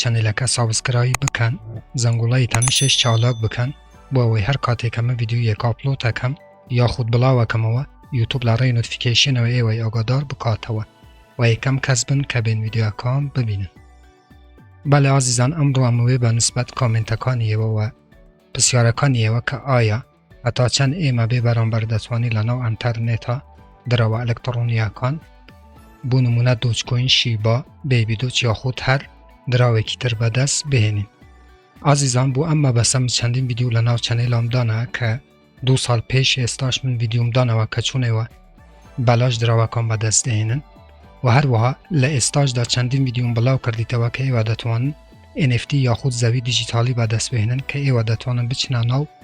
چەنەلەکە سابسکرایب بکەن زەنگوڵەی تەنشش چالاک بکەن بۆ ئەوەی هەر کاتێک کە من ڤیدیۆیەک ئاپلۆد ئەکەم یاخود بڵاو ئەکەمەوە یوتوب لە ڕێی نۆتفیکەیشنەوە ئێوەی ئاگادار بکاتەوە و یەکەم کەس بن کە بێن ڤیدیۆکان ببینن بەلێ ئازیزان ئەمڕۆ ئەمەوێ بە نسبەت کامنتەکانی ئێوە و پرسیارەکانی ئێوە کە ئایا هەتا چەند ئێمە بێ بەرامبەر دەتوانین لەناو ئەنتەرنێتە درەوە ئەلکتڕۆنییەکان بۆ نمونە دۆچکۆین شیبا بێبی دۆچ یاخود هەر دراوێکی تر بەدەست بهێنین ئازیزان بۆ ئەم مەبەسەم چەندین ویددیو لە ناو چەنەیلامدانە کە دو ساڵ پێش ئێستاش من ویددیومدانەوە کە چونەوە بەلاش دراوەکان بەدەست دەهێنن و هەروەها لە ئێستاشدا چەندین ویددیوم بڵاو کردیتەوە کە ئێوە دەتوانن NFT یاخود زەوی دیجیتالی بەدەست بهێنن کە ئێوە دەتوانن بچنە ناو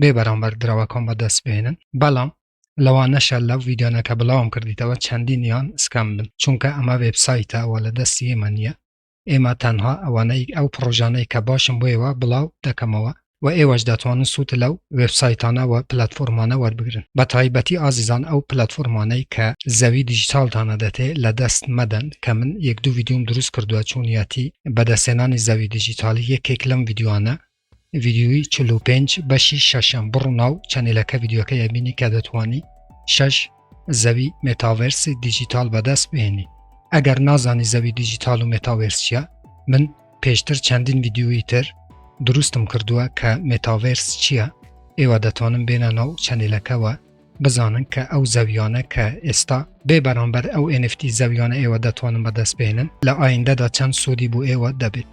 بێ بەرامبەر درەوەکان بەدەست بێنن بەڵام لەوانەشە لەو ویددیانەکە بڵاوم کردیتەوە چەندین یان سکام بن چونکە ئەمە وبسایتە وە لە دەستی ئێمە نییە ئێمە تەنها ئەوانەی ئەو پرۆژانەی کە باشم بۆیەوە بڵاو دەکەمەوە و ئێوەش دەتوانن سوود لەو وبسایتانە و پلتفۆرمانە وەربگرن بە تایبەتی ئازیزان ئەو پلتفۆرمانەی کە زەوی دیجیتالتانە دەتێ لە دەست مەدەن کە من یەک دوو ویددیوم دروست کردووە چونیەتی بەدەستێنانی زەوی دیجیتالی یەکێک لەم ویددیوانە ڤیدیۆی چل و پێنج بەشی شەشەم بڕو ناو چەنێلەکە ڤیدیۆکەی ئەبینی کە دەتوانی شەش زەوی مێتاڤێرسی دیجیتال بەدەست بێنی ئەگەر نازانی زەوی دیجیتال و مێتاڤێرسیە من پێشتر چەندین ڤیدیۆی تر دروستم کردووە کە مێتاڤێرس چییە ئێوە دەتوانم بێنە ناو چەنێلەکەەوە بزانن کە ئەو زەویانە کە ئێستا بێ بەرامبەر ئەو ئێنفتی زەویانە ئێوە دەتوانم بەدەست بێنن لە ئایندەدا چەند سوودی بۆ ئێوە دەبێت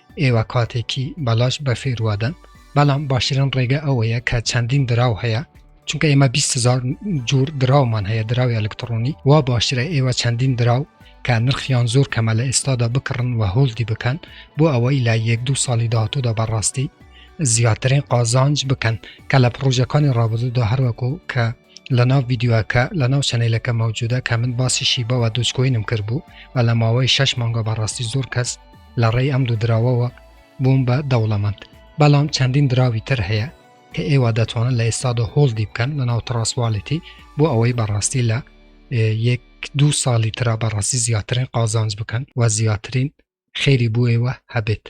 ئێوە کاتێکی بەلاش بەفێر وادەن بەڵام باشترین ڕێگە ئەوەیە کە چەندین دراو هەیە چونکە ئێمە 20هزار جور دراومان هەیە دراوی ئەلکترۆنی وا باشترە ئێوە چەندین دراو کە نرخیان زۆر کەمە لە ئێستادا بکڕن و هۆلدی بکەن بۆ ئەوەی لە یەک دوو ساڵی داهاتوودا بەڕاستی زیاترین قازانج بکەن کە لە پرۆژەکانی ڕابردوودا هەروەکو کە لەناو ڤیدیۆکە لەناو چەنەیلەکە مەوجودە کە من باسی شیبەوە دوچکۆینم کرد بوو و لە ماوەی شش مانگە بەڕاستی زۆر کەس لە ڕێی ئەم دوو دراوەوە بووم بە دەوڵەمەند بەڵام چەندین دراوی تر هەیە کە ئێوە دەتوانن لە ئێستادا هۆڵدی بکەن لە ناو تڕاسواڵێتی بۆ ئەوەی بەڕاستی لە یەک دوو ساڵی تررا بەڕاستی زیاترین قازانج بکەن و زیاترین خێری بۆ ئێوە هەبێت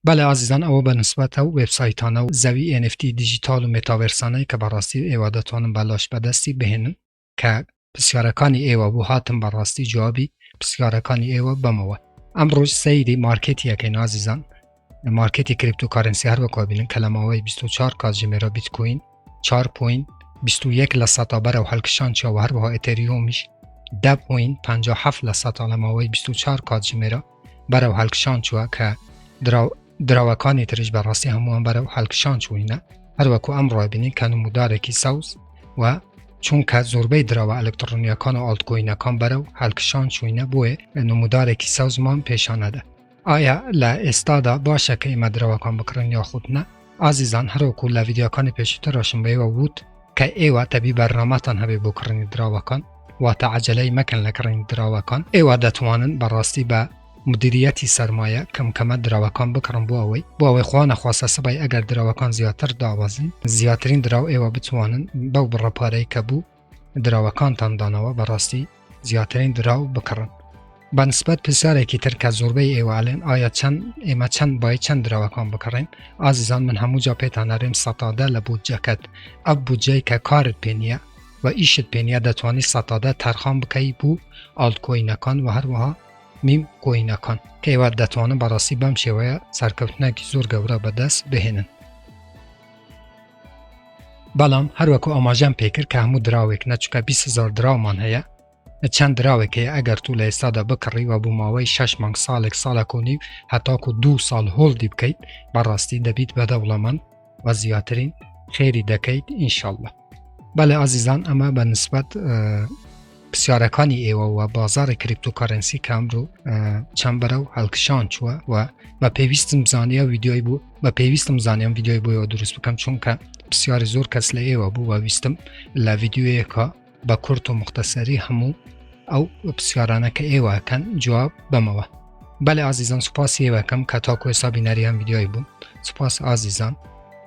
بەڵێ ئازیزان ئەوە بە نسبەت ئەو وێبسایتانە و زەوی NFT دیجیتاڵ و مێتاڤێرسانەی کە بەڕاستی ئێوە دەتوانن بەلاش بەدەستی بهێنن کە پرسیارەکانی ئێوە بۆ هاتم بەڕاستی جوابی پرسیارەکانی ئێوە بەمەوە ئەمڕۆژ سەیری مارکێتیەکەی نازیزان مارکێتی کریپتۆکارنسی هەر وەکو بینن کە لە ماوەی 24 کات ژمێرە بیتکوین 4 پوین 21 لە سەتا بەرەو هەلکشان چاوە هەروەها ئەتەریۆمیش 10 پوین 57 لە سەتا لە ماوەی 24 کات ژمێرە بەرەو هەلکشان چووە کە دراوەکانی تریش بە ڕاستی هەمووان بەرەو هەلکشان چوینە هەروەکو ئەم ڕۆبینی کە نمودارێکی سەوز و چونکە زۆربەی دراوە ئەلکترۆنیەکان و ئالتکۆینەکان بەرە و هەلکشان چوینە بۆیە نمودارێکی سەوزمان پێشانەدا ئایا لە ئێستادا باشە کە ئێمە درەوەکان بکڕین یاخودنا ئازیزان هەروەکو لە ڤیدیۆکانی پێشووتر ڕۆشن بەیوە ووت کە ئێوە تەبی بەرنامەتان هەبێ بۆ کڕنی دراوەکان واتە عجلەی مەکەن لە کڕین دراوەکان ئێوە دەتوانن بەڕاستی بە مدیریەتی سەرمایە کەمکەمە دراوەکان بکڕم بۆ ئەوەی بۆ ئەوەی خوانە خواستە سبای ئەگەر دراوەکان زیاتر دابەزین زیاترین دراو ئێوە بتوانن بەو بڕەپارەی کە بوو دراوەکانتان دانەوە بەڕاستی زیاترین دراو بکڕن بەنسبەت پرسیارێکی تر کە زۆربەی ئێوەلێن ئایا چەند ئێمە چەند بای چەند دراوەکان بکڕین ئازیزان من هەموو جا پێتان نەرێم سەتادە لە بودجەکەت ئەو بودجەی کە کارت پێ نیە و ئیشت پێ نیە دەتوانانی سەتادە تەرخان بکەی بوو ئالتکۆینەکان و هەروەها میم کۆینەکان کەێوە دەتوانن بەڕاستی بەم شێوەیە سەرکەوتنێکی زۆر گەورە بەدەست بهێنن بەڵام هەروەکو ئاماژەم پێکرد کە هەموو دراوێک نەچکە 20هزار دراومان هەیە چەند دراوێک هەیە ئەگەر تو لە ئێستادا بکڕی و بۆ ماوەی 6 مانگ ساڵێک ساڵە کۆنی و هەتاکو دو ساڵ هۆڵدی بکەیت بەڕاستی دەبیت بە دەوڵەمەند و زیاترین خێری دەکەیت ئینشاءله بەڵێ ئازیزان ئەمە بە نسبەت پرسیارەکانی ئێوە و بازاری کریپتۆکارنسی کام دوو چەند بەرە و هەڵکشان چووە و بە پێویستم زانانیە ویددیۆی بوو بە پێویستم زانیم ویددیۆی بۆیەوە دروست بکەم چونکە پرسیاری زۆر کەس لە ئێوە بوو وە ویستم لە ویددیوەیەکە بە کورت و مختەسەری هەموو ئەو پرسیارانە کە ئێوەکەن جواب بەمەوە بەلێ ئازیزان سوپاسی ئێوەکەم کە تاکو ئێستا بینەریان ویددیۆی بوو سوپاس ئازیزان